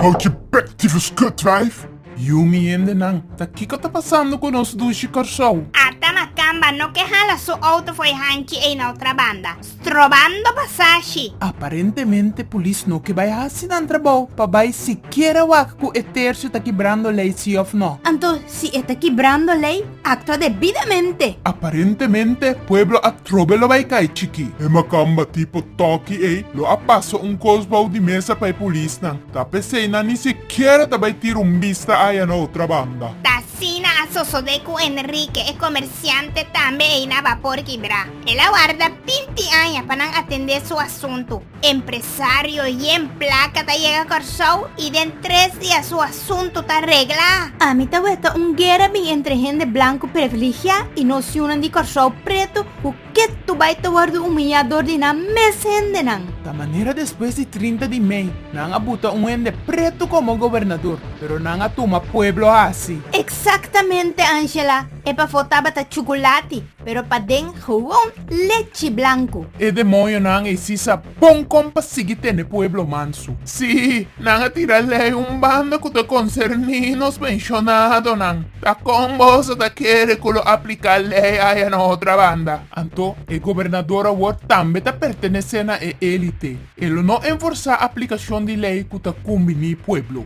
Houchi bek difu skut wijf. Yumi hende nan ta kiko ta pasando ku nos dushi Kòrsou. Arta na kamba no ke hala su outo for e hanchi ei na otra banda, strobando pasashi. Aparentemente polis no ke bai hasi nan trabou pa bai sikiera wak ku e tercio ta kibrando lei si òf no. Anto Si e ta kibrando lei, aktua debidamente. Aparentemente, pueblo atrobe lo bai kai chikí. E makamba tipo tòki ei lo a pasa un kos bou di mesa pa e polisnan, ta p'esei nan ni sikiera ta bai tira un bista aya na otra banda. Ta asina a sosodé ku Enrique, e komersiante tambe ei na bapor kibrá. El a warda binti aña pa nan atendé su asuntu. Empresario Yen Plaka ta yega Kòrsou i den tres dia su asuntu ta regla. Ami ta weta un guera bin entre hende blanku previligiá i nos yunan di Kòrsou Pretu ku ketu bai ta wòrdu humiliá dor di nan mes hendenan. Ta manera despues di trinta di mei nan a buta un hende pretu komo gobernador, pero nan a tuma pueblo hasi. Eksaktamente, Angela, e pafó tabata chukulati. Pero paden gewoon lechi blanku. E demoñonan esi sa bon kon pa sigui tene pueblo mansu. Sí, nan a tira lei un banda ku ta konserní nos penshonadonan. Ta kon bos a ta kere ku lo apliká lei aya na otra banda? Anto e gobernador awor tambe ta pertenesé na e élite. E lo no enforsá aplikashon di lei ku ta kumbiní pueblo.